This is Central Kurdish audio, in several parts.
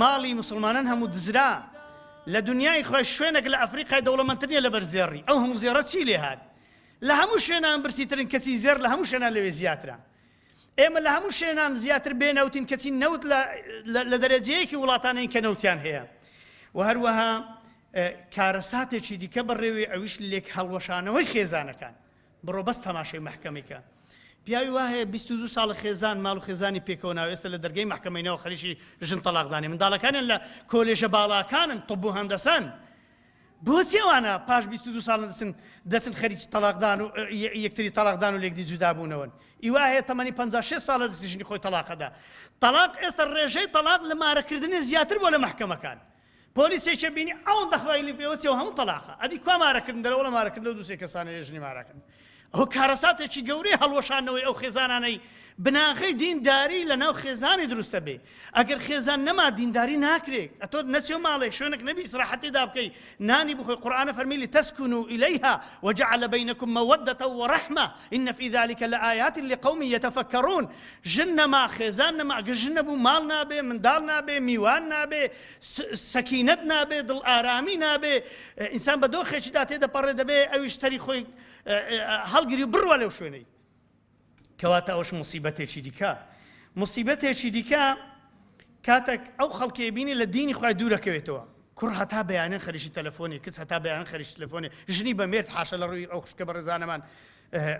ماڵی موسڵمانان هەموو دزرا لە دنیای خوێش شوێنێک لە ئەفریقای دەوڵەمەندتر نیە لەبەر زێڕی ئەو هەموو زێڕە چی لێ هات لە هەموو شوێنان برسیترن کەچی زێر لە هەموو شوێنان لەوێ زیاترە ئێمە لە هەموو شوێنان زیاتر بێنەوتین کەچی نەوت لە دەرەجەیەکی وڵاتانین کە نەوتیان هەیە و هەروەها کارەساتێکی دیکە بەڕێوێ ئەویش لێک هەڵوەشانەوەی خێزانەکان بڕۆ بەس تەماشای مەحکەمەی کە. پیاوی وا هەیە بیست و دوو ساڵە خێزان ماڵ و خێزانی پێکەوە ناوە ئێستا لە دەرگەی مەحکەمەی نەوە خەریکی ژن تەڵاق دانێ منداڵەکانیان لە کۆلێژە باڵاکانن طب و هەندەسەن بۆچی ئەوانە پاش بیست و دوو ساڵ دەچن دەچن خەریکی تەڵاق دان و یەکتری تەڵاق دان و لێکدی جودا بوونەوەن ئیوا هەیە تەمەنی 56 ساڵە دەستی ژنی خۆی تەڵاقەدا تەڵاق ئێستا ڕێژەی تەڵاق لە مارەکردنی زیاتر بۆ لە مەحکەمەکان پۆلیسێکیە بینی ئەوەندە خوای لێ پێوە چێ و هەموو تەڵاقە ئەدی کوا مارەکردن دەرەوەڵە مارەکردن لەو دوو سێ کەسانە یە ژنی ماراکردن ئەوە کارەساتێکی گەورەی هەڵوەشانەوەی ئەو خێزانانەی بناغەی دینداری لە ناو خێزانی دروستە بێ ئەگەر خێزان نەما دینداری ناکرێت ئەتۆ نەچێ ماڵێک شوێنێک نەبی ئیسراحەتی دا بکەی نانی بخۆی قورئانە فەرمی لتسکن الیها وجعل بینکم مودة ورحمة ان فی ذلك لآیات لقوم یتفکرون ژن نەما، خێزان نەما، گەر ژن نەبوو ماڵ نابێ، منداڵ نابێ، میوان نابێ، سەکینەت نابێ، دڵئارامی نابێ، ئینسان بە دۆخێکیدا تێدەپەڕێ دەبێ ئەویش سەری خۆی هەڵگری و بڕوا لەو شوێنەی. کەواتە ئەوەش موسیبەتێکی دیکە. موسیبەتێکی دیکە کاتێک ئەو خەڵکەی بینی لە دینی خۆی دوورەکەوێتەوە، کوڕ هەتا بەیانێ خەریکی تەلەفۆنی، کچ هەتا بەیانێ خەریکی تەلەفۆنی، ژنی بە مێرد حاشا لە ڕووی ئەو خوشکە بەڕێزانەمان،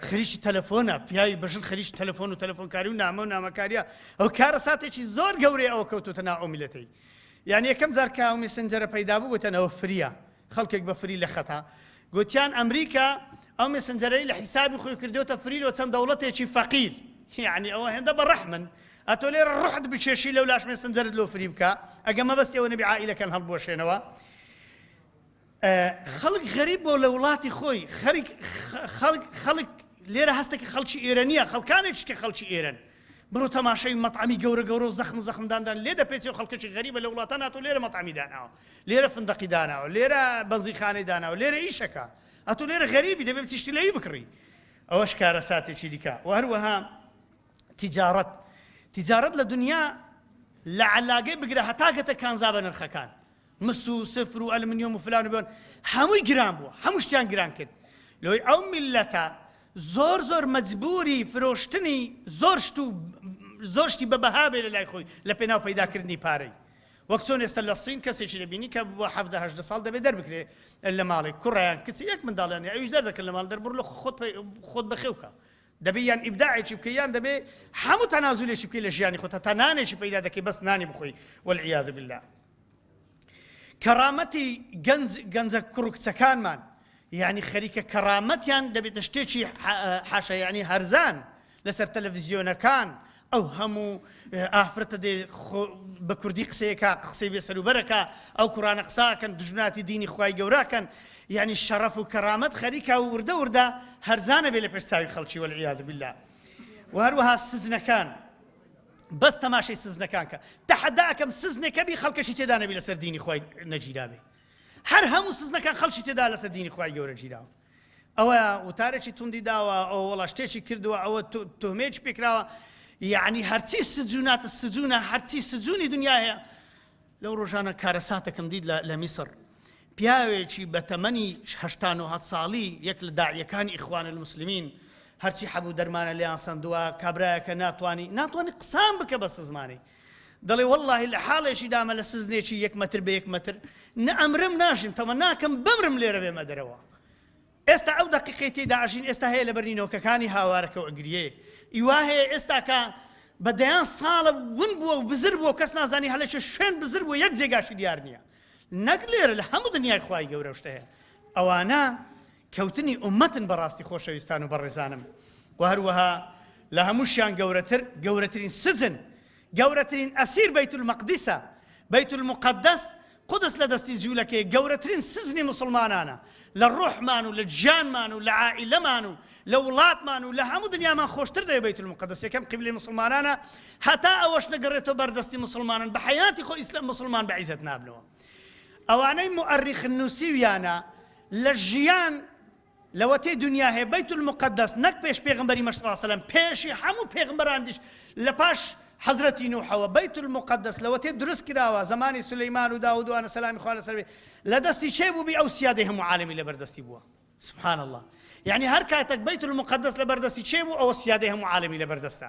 خریی تەلەفۆنە پیاوی بە ژن خریی تەلەفۆن و تەلەفۆنکاری و نامە و نامەکاریە ئەو کارە ساتێکی زۆر گەورەی ئەوە کەوتوتە نا ئۆمیلەتەی یان یەکەم جار کە مسنجەرە پەیدا بوو گوتەنەوە فریە خەڵکێک بە فری لە خەتا گوتیان ئەمریکا ئەو مسنجەرەی لە حیسابی خۆی کردوتە فریلۆ چەند دەوڵەتێکی فەقیر یعنی ئەوە هێندە بە ڕەحمن ئەتۆ لێ ڕحت بچێشی لەو لاش مسنجەرت لۆ فری بکە ئەگە مەبەستی ئەوە نەبی عائلەکەن هەڵبوەشێنەوە خەڵک غەریب بۆ لە وڵاتی خۆی خەرک خەڵک خەڵک لێرە هەستە کە خەڵکی ئێرە نییە خەڵکانێکش کە خەڵکی ئێرەن بڕۆ تەماشای مەطعمی گەورە گەورە و زەخم زەخمداندان لێ دەپێچێ و خەڵکەکی غەریبە لە وڵاتان هاتۆ لێرە مەطعمی داناوە لێرە فندەقی داناوە لێرە بەنزیخانەی داناوە لێرە ئیشەکە ئەتو لێرە غەریبی دەبێت چیشتی لەی بکڕی ئەوەش کارە ساتێکی دیکە و هەروەها تجارەت تجارەت لە دنیا لە علاگەی بگرە هەتاگەتە کانزا بە نرخەکان مس و سفر و ئەلمنیۆم و فلان و بێۆن هەمووی گران بووە هەموو شتیان گران کرد لۆی ئەو میللەتە زۆر زۆر مەجبوری فرۆشتنی زۆر شت و زۆر شتی بە بەها بێ لە لای خۆی لە پێناو پەیداکردنی پارەی وەک چۆن ئێستا لە سین کەسێکی دەبینی کە بۆ حەفدە هەژدە ساڵ دەبێت دەربکرێ لە ماڵی کوڕیان کچ یەک منداڵیان ئەویش دەردەکرد لە ماڵ دەربڕ لە خۆت خۆت بەخێوکە دەبێ یان ئیبداعێکی بکە یان دەبێ هەموو تەنازولێکی بکەی لە ژیانی خۆتە تا نانێکی پەیدا دەکەی بەس نانی بخۆی والعیاذ بالله کەڕامەتی گەنج گەنجە کوڕو کچەکانمان یانی خەریکە کەڕامەتیان دەبێتە شتێکی حاشا یعنی هەرزان لەسەر تەلەڤزیۆنەکان ئەو هەموو ئافرەتە دێ بە کوردی قسەیەکە قسەی بێ سەروبەرەکە ئەو کوڕانە قساکەن دژمناتی دینی خی گەوراکەن یعنی شەڕەف و کەرامەت خەریکا و وردە وردە هەرزانە بێ لە پێش چاوی خەڵکی وەلیاد بلا و هەروەها سزنەکان بەس تەماشەی سزنەکان کە تەحەدا ئەکەم سزنێکە بی خەڵکەشی تێدا نەبی لەسەر دینی خۆی نەگیرابێ هەر هەموو سزنەکان خەڵکی تێدا لەسەر دینی خۆی گەورە گیراوە ئەوە وتارێکی توندی داوە ئەو وڵا شتێکی کردووە ئەوە تۆمێکی پێکراوە یعنی هەرچی سجووناتە سجوونە هەرچی سجوونی دنیا هەیە لەو ڕۆژانە کارەساتەکم دیت لە میسڕ، پیاوێکی بە تەمەنی هەشتا نۆ هەت ساڵی یەک لە داعیەکانی ئیخوان المسلمین هەرچی حەبوو دەرمانە لێیان سەندوە، کابرایەکە ناتوانی ناتوانی قسان بکە بە سزمانی دەڵێ وەڵاهی لە حاڵێکی دامە لە سزنێکی یەک مەتر بە یەک مەتر نە ئەمرم ناژیم تەمە ناکەم بمرم لێرە بێمە دەرەوە ئێستا ئەو دەقیقەی تێیدا ئەژین ئێستا هەیە لەبەر نینۆکەکانی هاوارەکە و ئەگریێ ی وا هەیە ئێستا کە بە دەیان ساڵە ون بووە و بزر بووە و کەس نازانی هەلە چ شوێن بزر بووە یەک جێگاشی دیار نییە نەک لێرە لە هەموو دنیای خوای گەورە شتە هەیە ئەوانە کەوتنی ئومەتن بەڕاستی خۆشەویستان و بەڕێزانم و هەروەها لە هەمووشیان گەورەتر گەورەترین سجن گەورەترین ئەسیر بەیت المەقدسە بەیت المقدس قودس لە دەستی جولەکەیە گەورەترین سجنی موسڵمانانە لە ڕۆحمان و لە گیانمان و لە عائیلەمان و لە وڵاتمان و لە هەموو دنیامان خۆشتر دەوێ بەیت المقدس یەکەم قیبلەی موسڵمانانە هەتا ئەوەش نەگەڕێتەوە بەر دەستی موسڵمانان بە حەیاتی خۆ ئیسلام موسڵمان بە عیزەت نابنەوە ئەوانەی موئەرریخن نووسیویانە لە ژیان لەوەتەی دونیا هەیە بەیت المقدس نەک پێش پێغەمبەری مە صلی اللە علیە وسلم پێشی هەموو پێغمبەراندیش لەپاش حەزرەتی نوحەوە بەیت المقدس لەوەتەی دروست کراوە زەمانی سلیمان و داود و انە سەلامی خوا لەسەر بێ لەدەستی کێ بووبی ئەو سیادەی هەموو عالەمی لەبەردەستی بووە سبحان اللە یعنی هەر کاتەک بەیت المقدس لەبەردەستی کێ بوو ئەوە سیادەی هەموو عالەمی لەبەردەستە